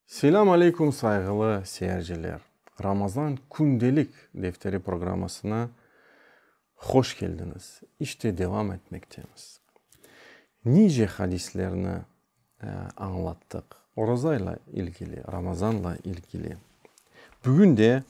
Selâm aleykum sayğılı seyirciler. Ramazan kündelik defteri programmasına hoş keldiñiz. İşte devam etmektemiz. Nice hadislerni añlattıq orazayla ilgili, Ramazanla ilgili. Bugün de.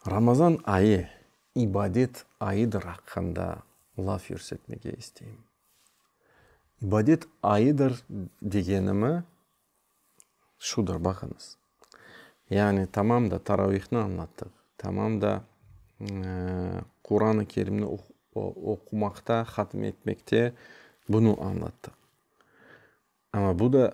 Ramazan ayı ibadet ayıdır aqqında laf yürsetmege isteyim. İbadet ayıdır degenimi şudur, baqıñız, yani tamam da taravihni añlattıq, tamam da Quranı Kerimni oqumaqta, hatim etmekte bunı añlattıq. Amma bu da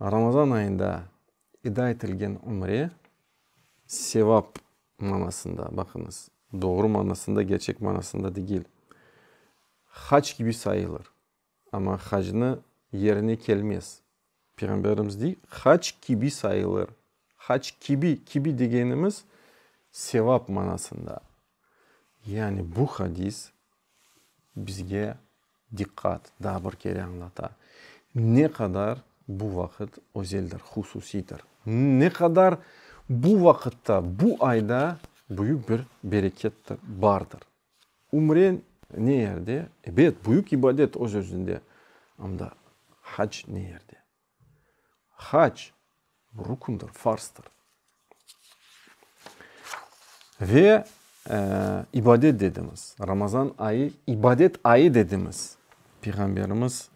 Ramazan ayında eda etilgen ümre, sevap manasında, baqıñız, doğru manasında, gerçek manasında degil, hac kibi sayılır. Amma hacnı yerine kelmez. Peyğamberimiz dey, hac kibi sayılır. Hac kibi, kibi degenimiz, sevap manasında. Yani bu hadis bizge diqqat, daa bir kere añlata, ne qadar bu vaqıt özeldir, hususiydir, ne qadar bu vaqıtta, bu ayda büyük bir bereket bardır. Ümre ne yerde? Ebet, büyük ibadet öz-özünde. Anda hac ne yerde? Hac, rükündir, farzdır. Ve ibadet dedimiz. Ramazan ayı ibadet ayı dedimiz. Peyğamberimiz,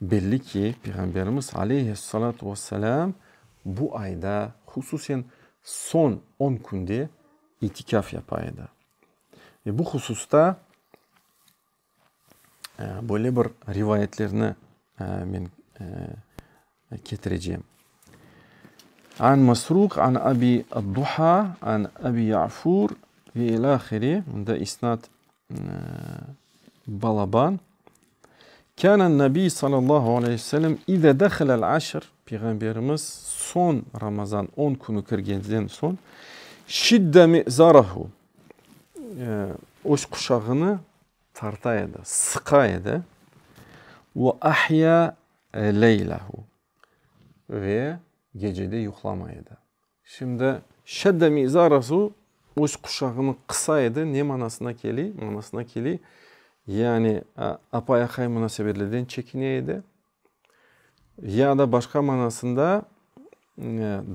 belli ki, Peyğamberimiz aleyhissalâtu ve selâm bu ayda, hususen soñ on künde itikâf yapa edi. Ve bu hususta. Böyle bir rivayetlerni men ketirecem. An Masruq, an Abi ad-Duha, an Abi Ya'fur ve ilâhiri, bunda isnat balaban. Kânen Nabi sallallahu aleyh ve sellem ize dehelel aşr, Peyğamberimiz soñ Ramazan on künü kirgenden soñ, şidde mi'zarahu, öz quşağını tarta edi, sıqa edi. Ve ahya leylehu, ve gece de yuqlamay edi. Şimdi, şedde mi'zarahu, öz quşağını qısa edi, ne manasına keliy? Manasına keliy, yani, apay-aqay munasebetleden çekine edi. Ya da başqa manasında,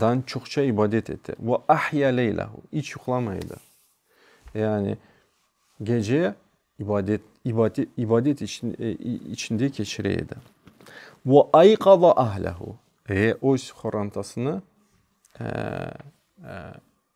dan çoqça ibadet etti. Ve ahya leylahu, iç yuqlamay edi. Yani gece ibadet, ibade, ibadet için, içinde keçire edi. Ve ayqaza ahlahu, ve öz qorantasını, eee, eee,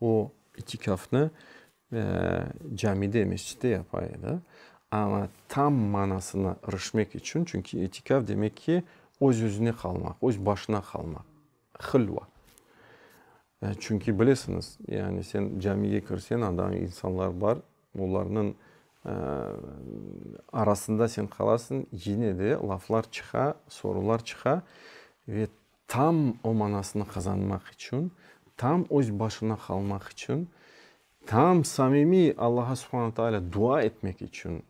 O, itikâfnı camide, mescitte yapa edi. Amma tam manasına irişmek içün, çünki itikâf demek ki, öz-özüne qalmaq, öz başına qalmaq, hilva. Çünki bilesiñiz, yani sen camiye kirseñ, anda insanlar bar, olarnıñ arasında sen qalasıñ, yine de laflar çıqa, sorular çıqa ve Tam o manasını qazanmaq içün, tam öz başına qalmaq içün, tam samimiy Allağa Subhana Taalâ dua etmek içün,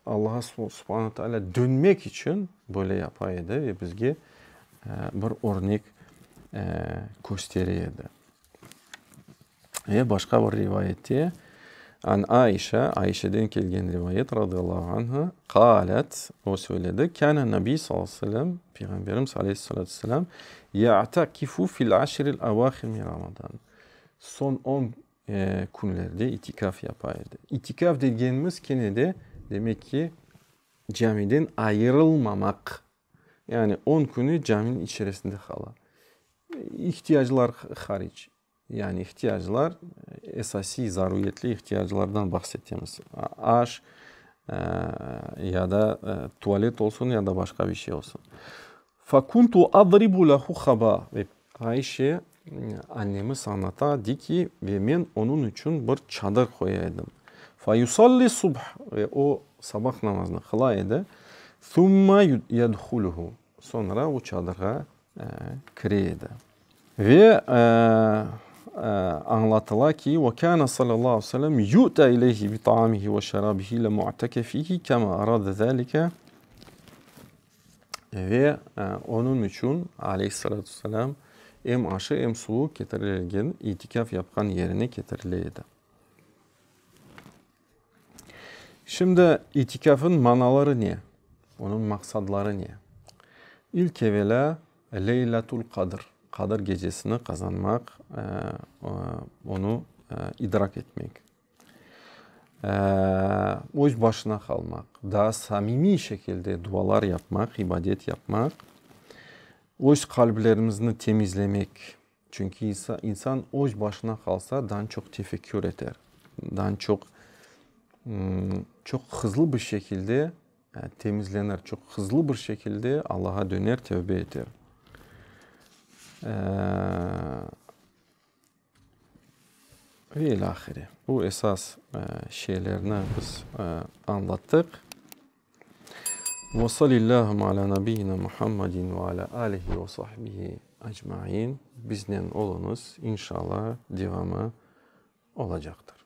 Allağa Subhana Taalâ dönmek içün böyle yapa edi ve bizge bir örnek köstere edi. Ve başqa bir rivayette, An Aişâ, Aişeden kelgen rivayet, radıyallahu anha, qâlet, o söyledi, Kâne Nabi sallallahu aleyhi ve sellem, Peyğamberimiz aleyhissalâtu vesselâm, Ya'takifu fil aşril avâhir min Ramazân, Son on künlerde itikaf yapa edi. İtikaf degenimiz kene de, demek ki, camiden ayırılmamaq Yani on künü caminiñ içerisinde qala. İhtiyaclar hariç. Yani ihtiyaclar, esasiy zaruriyetli ihtiyaclardan bahs etemiz. Aş, ya da tualet olsun, ya da başqa bir şey olsun. Fekuntu adribu lehu haba. Ayşe, annemiz añlata, dey ki, ve men onıñ içün bir çadır qoya edim. Fe yusalli subh, ve o, sabah namazını qıla edi. Thumma yedhuluhu, soñra o çadırğa kire edi. Ve añlatıla ki, ve kâne sallallahu aleyhi ve sellem yu'ta ileyhi bi taamihi ve şerabihi le mu'tekefihi kema arade zâlike. Ve onıñ içün, aleyhissalâtu vesselâm, em aşı, em suvu ketirilgen, itikâf yapqan yerine ketirile edi. Şimdi, itikâfnıñ manaları ne? Onıñ maqsadları ne? İlk evelâ, Leylatul Qadr, Qadir gecesini qazanmaq, onı idrak etmek. öz başına qalmaq, daa samimiy şekilde dualar yapmaq, ibadet yapmaq, öz qalblerimizni temizlemek. Çünki insan öz başına qalsa, daa çoq tefekkür eter, daa çoq, çoq hızlı bir şekilde temizlenir, çoq hızlı bir şekilde Allaha döner, tövbe eter. Ve ilâhre, bu esas şeylerni biz añlattıq. Ve salillâhu alâ nabiyyina Muhammedin ve alâ âlihi ve sahbihi ecmain. Biznen oluñız, inşalla devamı olacaqtır.